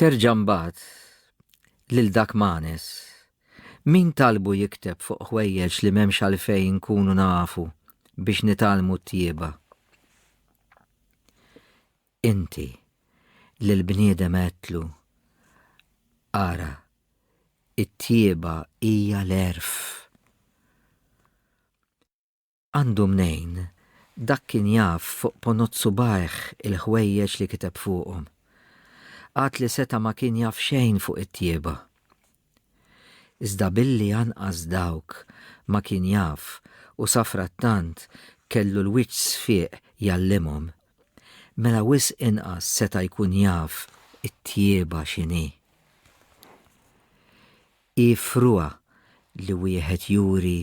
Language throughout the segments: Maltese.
Terġa' mbagħad lil dak Manes. Min talbu jikteb fuq ħwejjeġ li m'hemmx għalfejn inkunu nafu biex nitgħallmu t-tjieba? Inti lil bniedem għedtlu, Ara, it-tjieba hija l-għerf. Għandu mnejn, dak kien jaf fuq ponot subgħajh il-ħwejjeġ li kiteb fuqhom. Għad li seta' ma kien jaf xejn fuq it-tjieba. Iżda billi anqas dawk ma kien jaf u safrattant kellu l-wiċċ sfieq jgħallimhom, mela wisq inqas seta' jkun jaf it-tjieba x'inhi. Hi frugħa li wieħed juri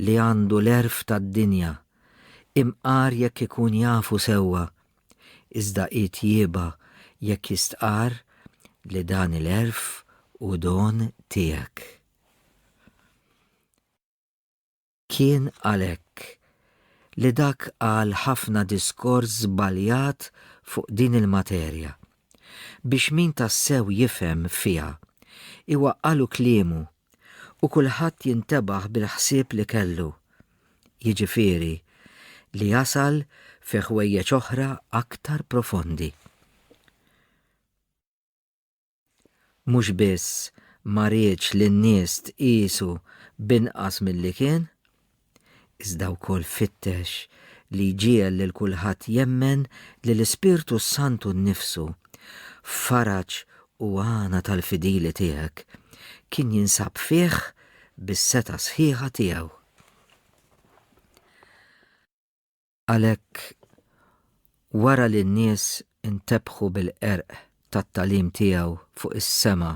li għandu l-għerf tad-dinja, imqar jekk ikun jafu sewwa, iżda hi tjieba jekk jistqarr li dan il-għerf hu don tiegħek. Kien għalhekk li dak qal ħafna diskors żbaljat fuq din il-materja, biex min tassew jifhem fiha, iwaqqagħlu kliemu u kulħadd jintebaħ bil-ħsieb li kellu, jiġifieri li jasal fi ħwejjeġ oħra aktar profondi. mhux biss ma riedx li n-nies tqiesu b'inqas milli kien, iżda wkoll fittex li jġiegħel lil kulħadd jemmen li l-Ispirtu s-Santu nnifsu, faraġ u għana tal-fidili tiegħek, kien jinsab fih bis-setgħa sħiħa tiegħu. Għalhekk, wara li n-nies intebħu bil-qerq tat-tagħlim tiegħu fuq is-sema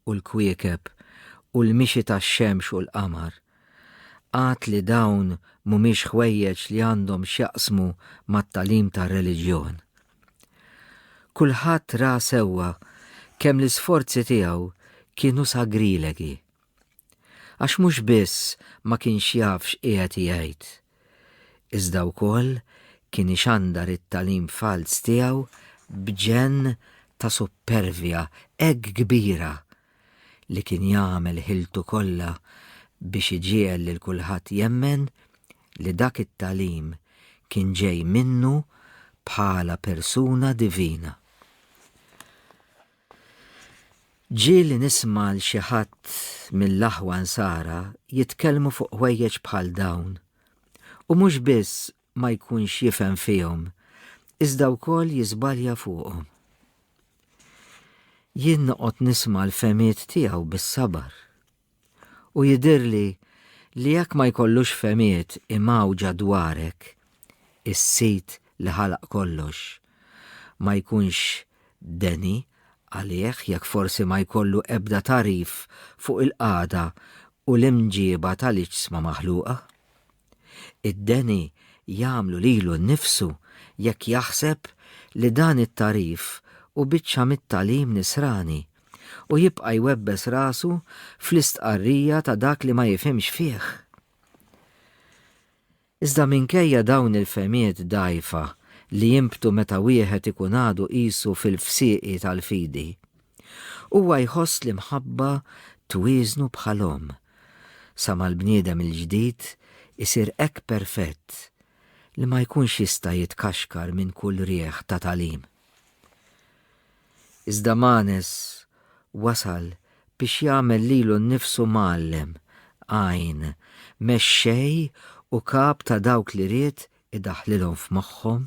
u l-kwiekeb u l-mixi tax-xemx u l-qamar, għad li dawn mhumiex ħwejjeġ li għandhom x'jaqsmu mat-tagħlim tar-reliġjon. Kulħadd ra sewwa kemm l-isforzi tiegħu kienu sagrilegi Għax mhux biss ma kienx jaf x'qiegħed jgħid, iżda wkoll kien ixandar it-tagħlim falz tiegħu b'ġenn ta' suppervja hekk kbira li kien jagħmel ħiltu kollha biex iġiegħel lil kulħadd jemmen li dak it-tagħlim kien ġej minnu bħala persuna divina. Ġieli nisma' 'l xi ħadd mill-aħwa Nsara jitkellmu fuq ħwejjeġ bħal dawn u mhux biss ma jkunx jifhem fihom iżda wkoll jiżbalja fuqhom. Jien noqgħod nisma' l-fehmiet tiegħu bis-sabar. U jidhirli li jekk ma jkollux fehmiet imgħawġa dwarek, is-Sid li ħalaq kollox ma jkunx deni għalih jekk forsi ma jkollu ebda tagħrif fuq il-qagħda u l-imġieba tal-iġsma maħluqa. Id-deni jagħmlu lilu nnifsu jekk jaħseb li dan it-tagħrif hu biċċa mit-tagħlim nisrani u jibqa' jwebbes rasu fl-istqarrija ta' dak li ma jifhimx fih. Iżda minkejja dawn il-fehmiet dgħajfa li jinbtu meta wieħed ikun għadu qisu fil-fsieqi tal-fidi, huwa jħoss l-imħabba twieżnu bħal omm sa mal-bniedem il-ġdid isir hekk perfett li ma jkunx jista' jitkaxkar minn kull riħ ta' tagħlim. Iżda Manes wasal biex jagħmel lilu nnifsu mgħallem, għajn, mexxej u kap ta' dawk li ried idaħħlilhom f'moħħhom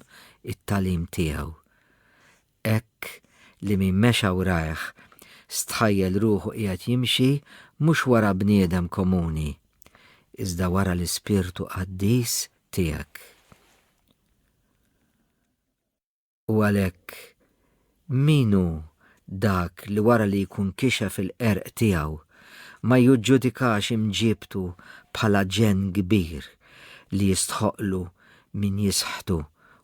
it-tagħlim tiegħu. Hekk li min mexa wrajh stħajjel ruħu qiegħed jimxi mhux wara bniedem komuni, iżda wara l-Ispirtu Qaddis tiegħek. U għalhekk, min hu dak li wara li jkun kixef il-qerq tiegħu ma juġġudikax imġiebtu bħala ġenn kbir li jistħoqqlu min jisħtu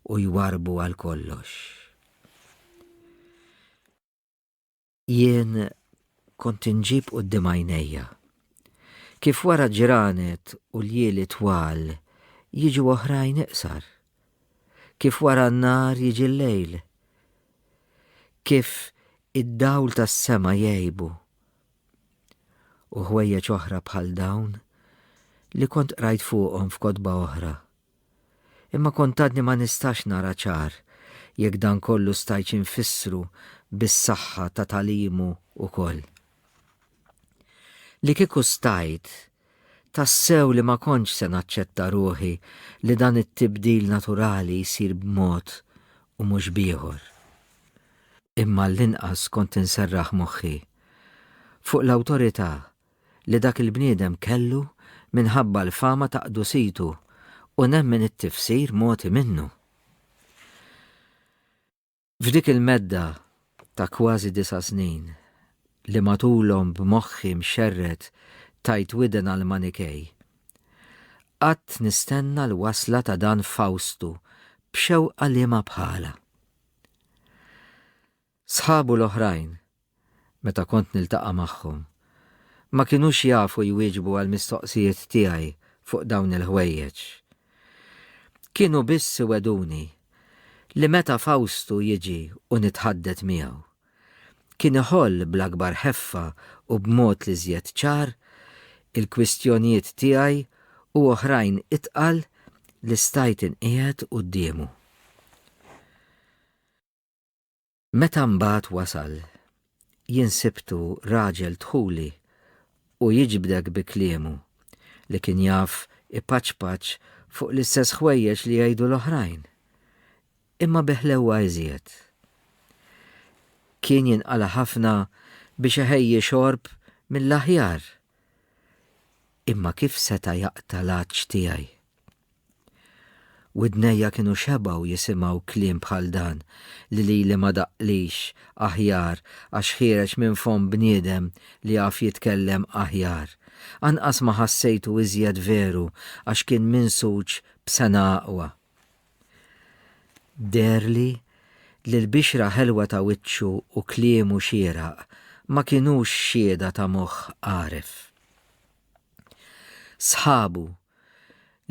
u jwarrbu għal kollox. Jien kont inġib qudiem għajnejja. Kif wara ġranet u l-jieli twal jiġu oħrajn iqsar. Kif wara n-nar jiġi l-lejl. Kif id-dawl tas-sema jgħibu. U ħwejjeġ oħra bħal dawn li kont qrajt fuqhom f'kotba oħra. Imma kont għadni ma nistax nara ċar jekk dan kollu stajtx infissru bis-saħħa ta' tagħlimu wkoll. Li kieku stajt, tassew li ma kontx se naċċetta ruħi li dan it-tibdil naturali jsir b'mod u mhux b'ieħor. Imma għallinqas kont inserraħ moħħi fuq l-awtorità li dak il-bniedem kellu minħabba l-fama ta' qdusitu u nemmen it-tifsir mogħti minnu. F'dik il-medda ta' kważi disa' snin li matulhom b'moħħi mxerred tajt widen għall-Manikej, qgħadt nistenna l-wasla ta' dan Fawstu b'xewqa liema bħalha. Sħabu l-oħrajn, meta kont niltaqa' magħhom, ma kinux jafu jwieġbu għall-mistoqsijiet tiegħi fuq dawn il-ħwejjeġ. Kienu biss iwegħduni li meta Fawstu jiġi u nitħaddet miegħu, kien iħoll bl-akbar ħeffa u b'mod l-iżjed ċar il-kwistjonijiet tiegħi u oħrajn itqal li stajt inqiegħed quddiemu. Meta mbagħad wasal, jien sibtu raġel dħuli u jiġbdek bi kliemu li kien jaf ipaċpaċ fuq l-istess ħwejjeġ li jgħidu l-oħrajn, imma bi ħlewwa iżjed. Kien jinqala ħafna biex iħejji xorb mill-aħjar, imma kif seta' jaqta' l-għatx tiegħi? Widnejja kienu xebgħu jisimgħu kliem bħal dan li lili ma daqqlix aħjar għax ħiereġ minn fomm bniedem li jaf jitkellem aħjar. Anqas ma ħassejtu iżjed veru għax kien minsuġ b'sengħa aqwa. Deherli li l-bixra ħelwa ta' wiċċu u kliemu xieraq ma kinux xhieda ta' moħħ għaref. Sħabu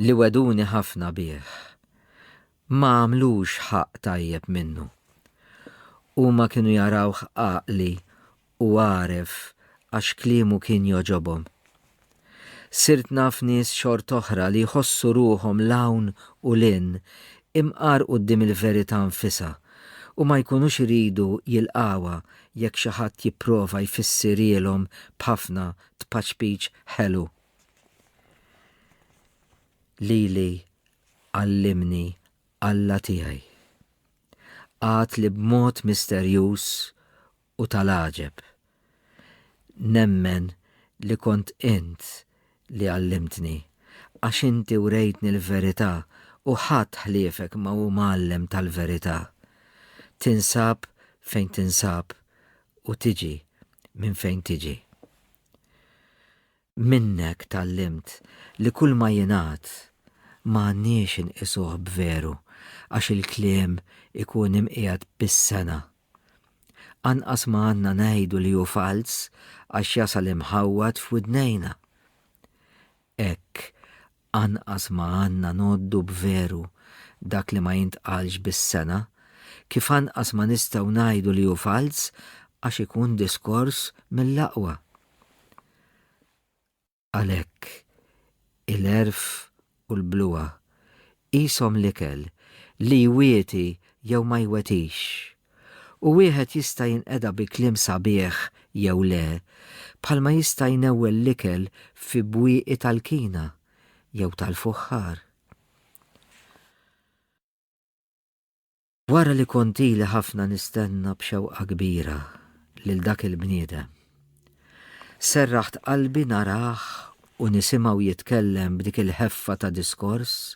li wegħduni ħafna bih ma għamlux ħaqq tajjeb minnu. Huma kienu jarawh għaqli u għaref għax kliemu kien jogħġobhom. Sirt naf nies xort'oħra li jħossu ruħhom 'l hawn u 'l hinn imqar quddiem il-verità nfisha u ma jkunux iridu jilqgħuha jekk xi ħadd jipprova jfissirielhom b'ħafna tpaċpiċ ħelu. Lili għallimni Alla tiegħi. Għad li b'mod misterjuż u tal-għaġeb. Nemmen li kont int li għallimtni, għax inti urejtni l-verità u ħadd ħliefek ma hu mgħallem tal-verità. Tinsab fejn tinsab u tiġi Minn fejn tiġi? Minnek tgħallimt li kull ma jingħad ma għandniex inqisuh b'veru għax il-kliem ikun imqiegħed bis-sengħa. Anqas ma għandna ngħidu li hu falz għax jasal imħawwad f'widnejna. Hekk, anqas ma għandna ngħoddu b'veru dak li ma jintqalx bis-sengħa, kif anqas ma nistgħu ngħidu li hu falz għax ikun diskors mill-aqwa. Għalhekk, il-għerf u l-bluha Qishom l-ikel li jwieti jew ma jwetix. U wieħed jista' jinqeda bi kliem sabiħ jew le, bħalma jista' jnewwel l-ikel fi bwieqi tal-kina jew tal-fuħħar. Wara li kont ili ħafna nistenna b'xewqa kbira lil dak il-bniedem, serraħt qalbi narah u nisimgħu jitkellem b'dik il-ħeffa ta' diskors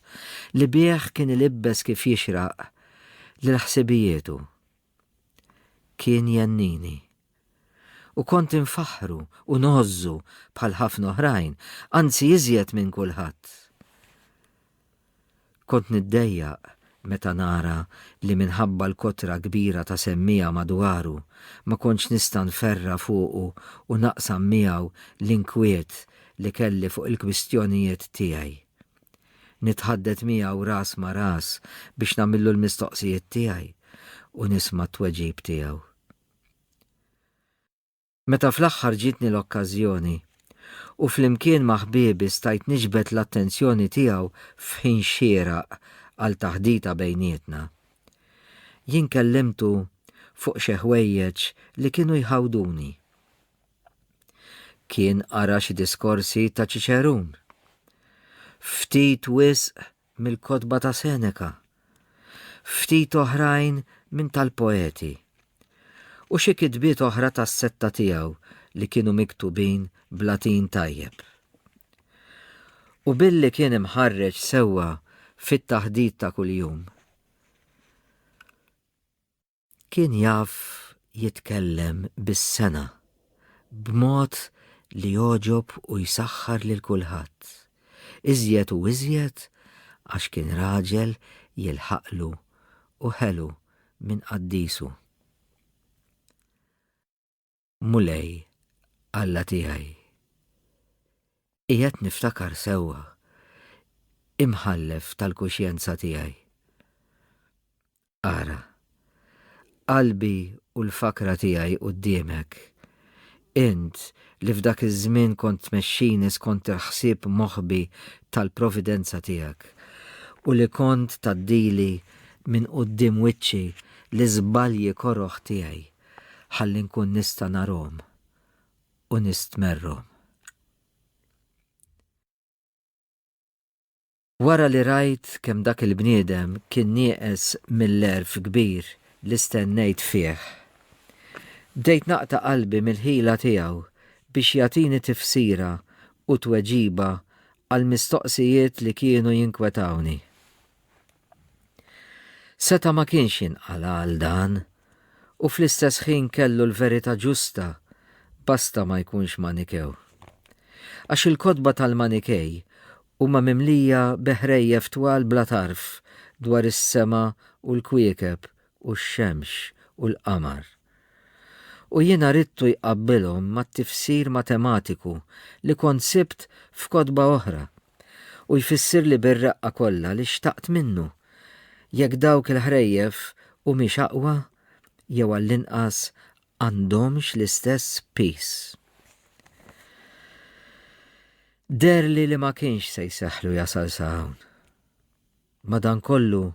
li bih kien ilibbes kif jixraq lil ħsibijietu. Kien jennini. U kont infaħħru u ngħożżu bħal ħafna oħrajn, anzi iżjed minn kulħadd. Kont niddejjaq meta nara li minħabba l-kotra kbira ta' semmiegħa madwaru, ma kontx nista' nferra' fuqu u naqsam miegħu l-inkwiet li kelli fuq il-kwistjonijiet tiegħi. Nitħaddet miegħu ras ma' ras biex nagħmillu l-mistoqsijiet tiegħi u nisma' t-tweġib tiegħu. Meta fl-aħħar ġietni l-okkażjoni u flimkien ma' ħbiebi stajt niġbed l-attenzjoni tiegħu f'ħin xieraq għal taħdita bejnietna. Jien kellimtu fuq xi ħwejjeġ li kienu jħawduni. Kien qara xi diskorsi ta' Ċiċerun. Ftit wisq mill-kotba ta' Seneca, ftit oħrajn minn tal-poeti, u xi kitbiet oħra tas-setta tiegħu li kienu miktubin b'Latin tajjeb. U billi kien imħarreġ sewwa fit-taħdit ta' kuljum, Kien jaf jitkellem bis-sengħa, b'mod li jogħġob u jsaħħar lil kulħadd, iżjed u iżjed għax kien raġel jilħaqlu u ħelu minn qaddisu. Mulej, Alla tiegħi. Qiegħed niftakar sewwa, imħallef tal-kuxjenza tiegħi. Ara, qalbi u l-fakra tiegħi quddiemek. Int li f'dak iż-żmien kont tmexxini skont il-ħsieb moħbi tal-providenza tiegħek u li kont taddili minn quddiem wiċċi l-iżbalji koroħ tiegħi. ħalli nkun nista' narhom u nistmerrhom. Wara li rajt kemm dak il-bniedem kien nieqes mill-għerf kbir li stennejt fih, bdejt naqta' qalbi mill-ħila tiegħu biex jagħtini tifsira u tweġiba għall-mistoqsijiet li kienu jinkwetawni. Seta' ma kienx jinqala' għal dan, u fl-istess ħin kellu l-verità ġusta, basta ma jkunx Manikew. Għax il-kotba tal-Manikej huma mimlija bi ħrejjef twal bla tarf dwar is-sema u l-kwiekeb u x-xemx u l-qamar. U jiena ridtu jqabbilhom mat-tifsir matematiku li kont sibt f'kotba oħra u jfissirli bir-reqqa kollha li xtaqt minnu, jekk dawk il-ħrejjef humiex aqwa jew għall-inqas għandhomx l-istess piż. Deherli li ma kienx se jsehħlu jasal sa hawn. Madankollu,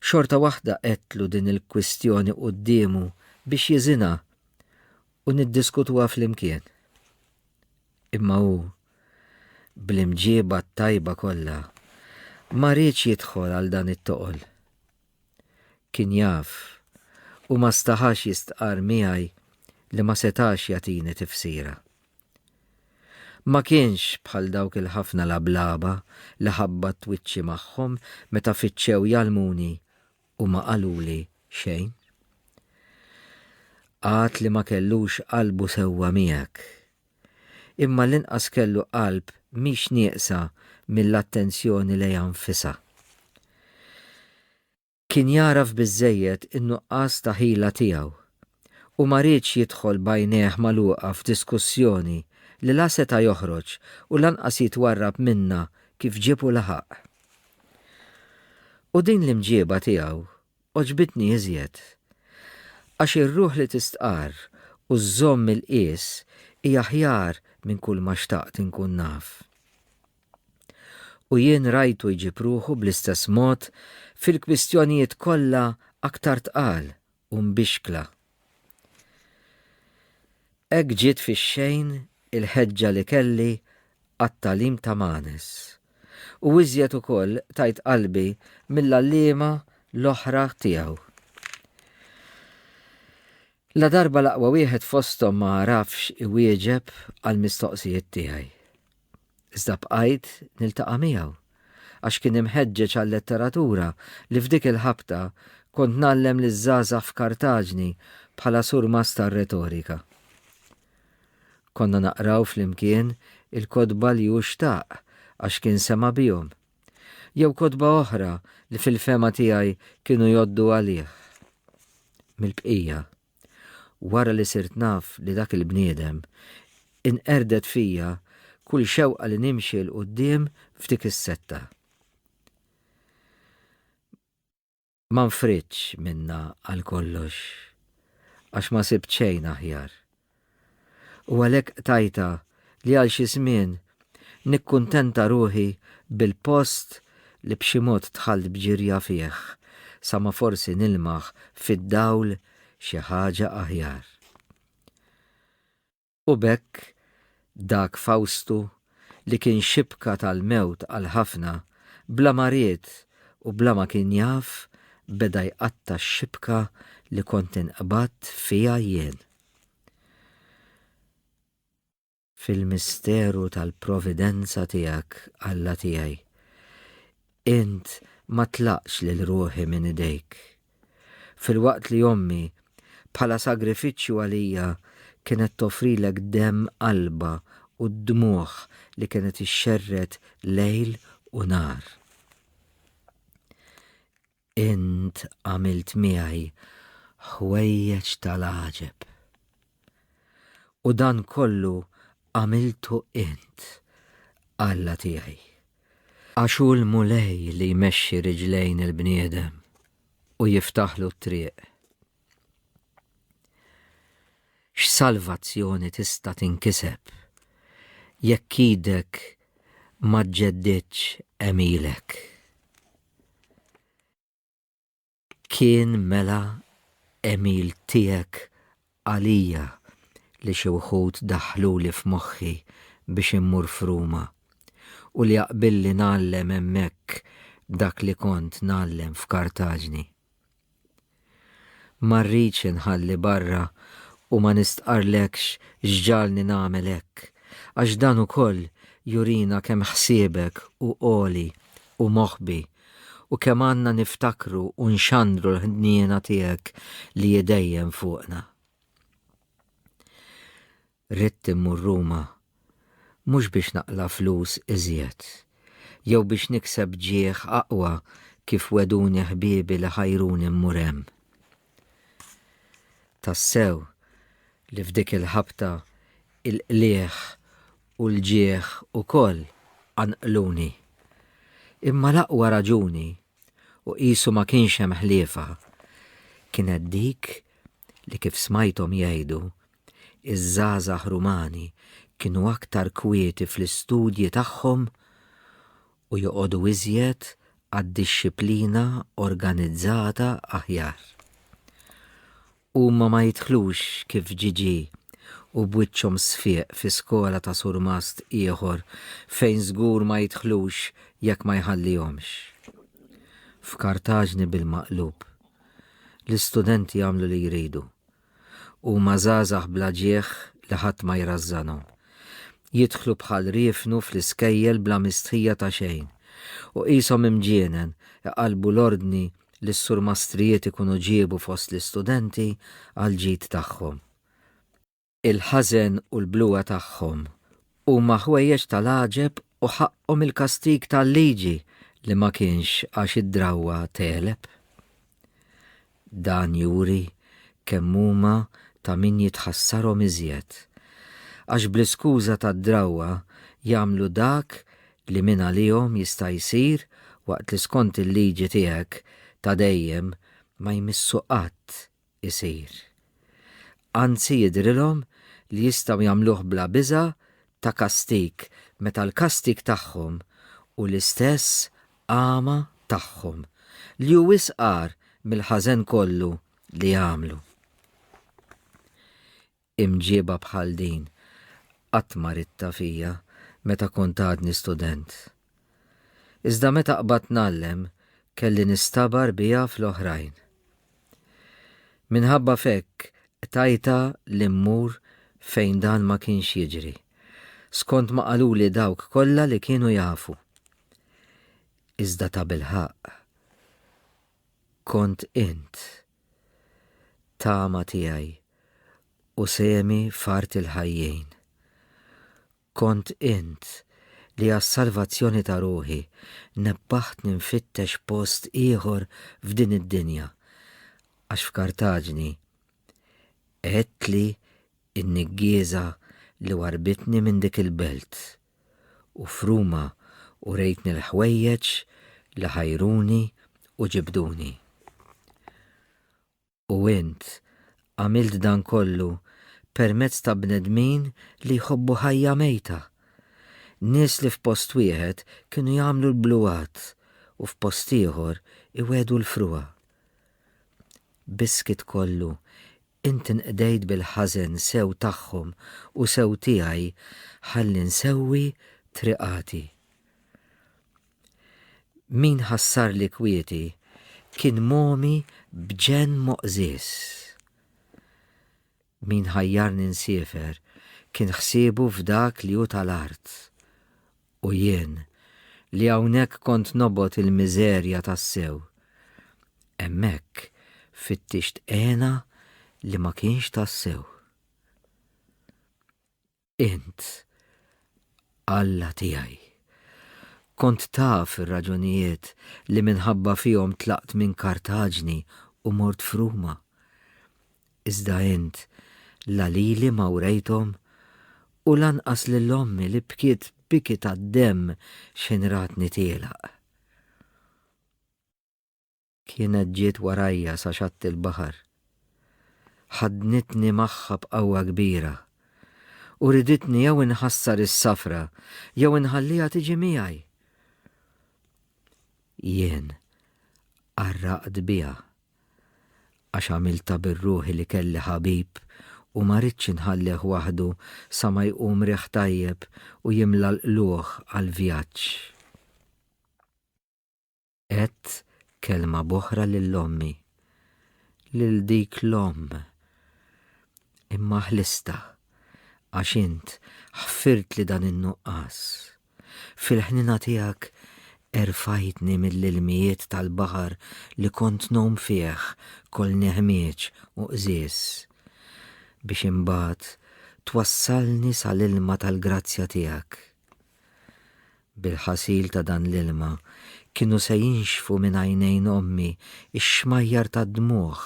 xorta waħda għedtlu din il-kwistjoni quddiemu biex jiżinha u niddiskutuha flimkien. Imma hu, bl-imġieba t-tajba kollha, ma riedx jidħol għal dan it-toqol. Kien jaf u ma staħax jistqarr miegħi li ma setax jagħtini tifsira. Ma kienx bħal dawk il-ħafna lablaba li ħabbatt wiċċi magħhom meta fittxew jgħallmuni u ma qaluli xejn. Għad li ma kellux qalbu sewwa miegħek. Imma l-inqas kellu qalb mhix nieqsa mill-attenzjoni lejha nfisha. Kien jagħraf biżżejjed in-nuqqas ta' ħila tiegħu u ma riedx jidħol b'għajnejh magħluqa f'diskussjoni li la seta' joħroġ u lanqas jitwarrab minnha kif ġieb u laħaq. U din l-imġieba tiegħu għoġbitni iżjed, Għax ir-ruħ li tistqarr u żżomm il-qies hi aħjar minn kulma xtaqt inkun naf. U jien rajtu jġib ruħu bl-istess mod fil-kwistjonijiet kollha aktar tqal u mbixkla. Hekk ġiet fix-xejn il-ħeġġa li kelli għat-tagħlim ta' Manes, u iżjed ukoll tajt qalbi mill-għalliema l-oħra tiegħu. Ladarba l-aqwa wieħed fosthom ma għarafx iwieġeb għall-mistoqsijiet tiegħi. Iżda bqajt niltaqa' miegħu, għax kien imħeġġeġ għal-letteratura li f'dik il-ħabta kont ngħallem liż-żgħażagħ f'Kartaġni bħala surmast tar-retorika. Konna naqraw flimkien il-kotba li hu xtaq għax kien sema' bihom, jew kotba oħra li fil-fehma tiegħi kienu jgħoddu għalih mill-bqija. Wara li sirt naf li dak il-bniedem, inqerdet fija kull xewqa li nimxi 'l quddiem f'dik is-setta. Ma nfridtx minnha għal kollox, għax ma sibt xejn aħjar. U għalhekk qtajtha li għal xi żmien nikkuntenta ruħi bil-post li b'xi mod dħalt b'ġirja fih sa ma forsi nilmaħ fid-dawl xi ħaġa aħjar. U b'hekk dak Fawstu li kien xibka tal-mewt għal ħafna, bla ma ried u bla ma kien jaf beda jqatta' x-xibka li kont inqbadt fiha jien. fil-misteru tal-providenza tiegħek, Alla tiegħi. Int ma tlaqx lil ruħi minn idejk. Filwaqt li ommi, bħala sagrifiċċju għalija, kienet tofrilek demm qalba u d-dmugħ li kienet ixxerred lejl u nhar. Int għamilt miegħi ħwejjeġ tal-għaġeb. U dan kollu għamiltu int, Alla tiegħi. Għax hu l-Mulej li jmexxi riġlejn il-bniedem u jiftaħlu t-triq. X'salvazzjoni tista' tinkiseb jekk idek ma ġġeddidx għemilek? Kien mela għemil tiegħek għalija li xi wħud daħħluli f'moħħi biex immur f'Ruma, u li aqbilli ngħallem hemmhekk dak li kont ngħallem f'Kartaġni. Ma rridx inħalli barra u ma nistqarrlekx x'ġagħalni nagħmel hekk, għax dan ukoll jurina kemm ħsiebek hu għoli u moħbi u kemm għandna niftakru u nxandru l-ħniena tiegħek li hi dejjem fuqna. Ridt immur Ruma, mhux biex naqla' flus iżjed, jew biex nikseb ġieh aqwa kif wegħduni ħbiebi li ħajruni mmur hemm. Tassew li f'dik il-ħabta il-qligħ u l-ġieh ukoll qanqluni. Imma l-aqwa raġuni, u qisu ma kienx hemm ħliefha, kienet dik li kif smajthom jgħidu, iż-żgħażagħ Rumani kienu aktar kwieti fl-istudji tagħhom u joqogħdu iżjed għad-dixxiplina organizzata aħjar. Huma ma jidħlux kif ġiġi u b'wiċċhom sfieq fi skola ta' surmast ieħor fejn żgur ma jidħlux jekk ma jħallihomx. F'Kartaġni bil-maqlub L-istudenti jagħmlu li jridu. Huma żgħażagħ bla ġieħ li ħadd ma jrażżanhom. Jidħlu bħal riefnu fl-iskejjel bla mistħija ta' xejn u qishom imġienen iqallbu l-ordni li s-surmastrijiet ikunu ġiebu fost l-istudenti għall-ġid tagħhom. Il-ħażen u l-bluha tagħhom huma ħwejjeġ ta' l-għaġeb u ħaqqhom il-kastig tal-liġi li ma kienx għax id-drawwa tegħleb. Dan juri kemm huma ta' min jitħassarhom iżjed, għax bl-iskuża tad-drawwa jagħmlu dak li min għalihom jista' jsir waqt li skont il-liġi tiegħek ta' dejjem ma jmissu qatt isir. Anzi jidhrilhom li jistgħu jagħmluh bla biża' ta' kastig meta l-kastig tagħhom hu l-istess għama tagħhom, li hu wisq agħar mill-ħażen kollu li għamlu. Imġieba bħal din qatt ma ridtha fija meta kont għadni student. Iżda meta qbadt ngħallem kelli nistabar biha fl-oħrajn. Minħabba f'hekk qtajtha li mmur fejn dan ma kienx jiġri, skont ma qaluli dawk kollha li kienu jafu. Iżda tabilħaqq Kont int, tama tiegħi u sehemi f'art il-ħajjin. Kont int li għas-salvazzjoni ta' ruħi nebbaħtni nfittex post ieħor f'din id-dinja, għax f'Kartaġni għedtli n-niggieża li warbitni minn dik il-belt. u f'Ruma u rejtni l-ħwejjeġ li ħajruni u ġibduni. U int għamilt dan kollu permezz ta' bnedmin li jħobbu ħajja mejta, nies li f'post wieħed kienu jagħmlu l-bluwat u f'post ieħor iwedu l-frua. Biss kit kollu Int inqdejt bil-ħażen sew tagħhom u sew tiegħi ħalli nsewwi triqati. Min ħassarli kwieti kien mogħmi b'ġenn moqżież. Min ħajjarni nsiefer kien ħsiebu f'dak li hu tal-art U jien, li hawnhekk kont nobgħod il-miżerja tassew, hemmhekk fittixt hena li ma kienx tassew. Int, Alla tiegħi, kont taf ir-raġunijiet li minħabba fihom tlaqt minn Kartaġni u mort f'Ruma. Iżda int la lili ma wrejthom u lanqas lil ommi li bkiet biki tad-demm x'ħin ratni tielaq. Kienet ġiet warajja sa xatt il-baħar. Ħaddnitni magħha b'qawwa kbira u riditni jew inħassar is-safra jew inħalliha tiġi miegħi. Jien qarraqt biha. Għax għamiltha bir-ruħi li kelli ħabib u ma ridtx inħallih waħdu sa ma jqum riħ tajjeb u jimla l-qlugħ għall-vjaġġ. Għedt kelma b'oħra lil ommi. Lil dik l-omm. Imma ħlistha. Għax int ħfirtli dan in-nuqqas. Fil-ħniena tiegħek erfajtni mill-ilmijiet tal-baħar li kont ngħum fih kol neħmieġ u qżież, biex imbagħad twassalni sa l-ilma tal-grazzja tiegħek. Bil-ħasil ta' dan l-ilma kienu se jinxfu minn għajnejn ommi x-xmajjar tad-dmugħ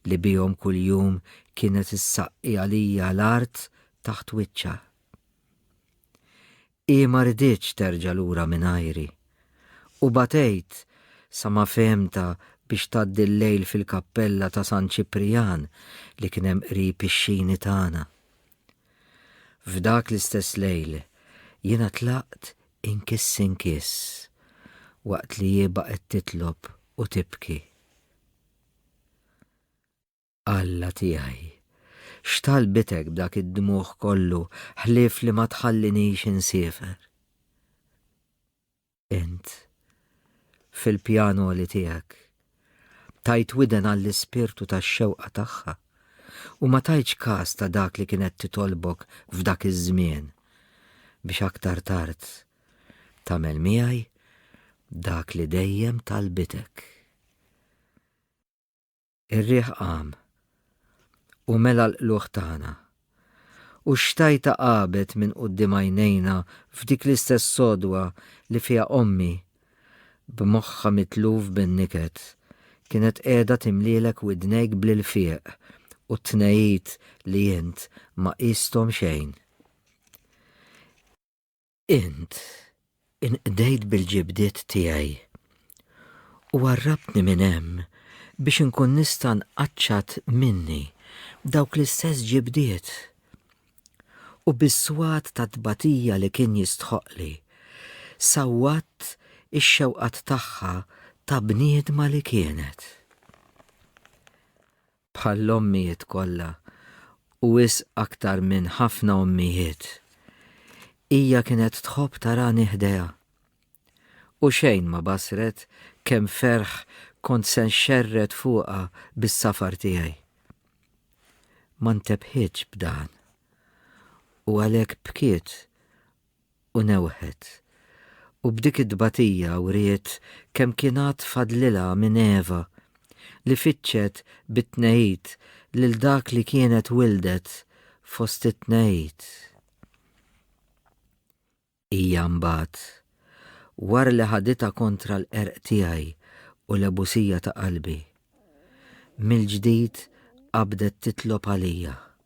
li bihom kuljum kienet issaqqi għalija l-art taħt wiċċha. Hi ma riditx terġa' lura mingħajri, u batejt sa ma fehemtha biex tgħaddi l-lejl fil-kappella ta' San Ċiprijan li kien hemm qrib ix-xini tagħna. F'dak l-istess lejl jiena tlaqt inkiss inkiss waqt li hi baqgħet titlob u tibki. Alla tiegħi, x'talbitek b'dak id-dmugħ kollu ħlief li ma tħallinix insiefer? Int, fil-pjan għoli tiegħek, tajt widen għall-ispirtu tax-xewqa tagħha u ma tajtx każ ta' dak li kienet titolbok f'dak iż-żmien biex aktar tard tagħmel miegħi dak li dejjem talbitek. Ir-riħ qam u mela l-qlugħ tagħna. U x-xtajta qabet minn quddiem għajnejna f'dik l-istess sodwa li fiha ommi, b'moħħha mitluf bin-niket, kienet qiegħda timlielek widnejk bl-ilfieq u t-tnegħid li int ma qisthom xejn. Int inqdejt bil-ġibdiet tiegħi u għarrabtni minn hemm biex inkun nista' nqaċċat minni b'dawk l-istess ġibdiet u bis-swat tat-tbatija li kien jistħoqqli, sawwatt ix-xewqat tagħha ta' bniedma li kienet. bħall-ommijiet kollha u wisq aktar minn ħafna ommijiet, hija kienet tħobb tarani ħdejha. U xejn ma bassret kemm ferħ kont se nxerred fuqha bis-safar tiegħi. Ma ntebħitx b'dan u għalhekk bkiet u newħet, u b'dik it-tbatija wriet kemm kien għad fadlilha minn Eva, li fittxet bit-tnegħid lil dak li kienet wildet fost it-tnegħid. Hija mbagħad, wara li ħaditha kontra l-qerq tiegħi u l-għebusija ta' qalbi, mill-ġdid qabdet titlob għalija.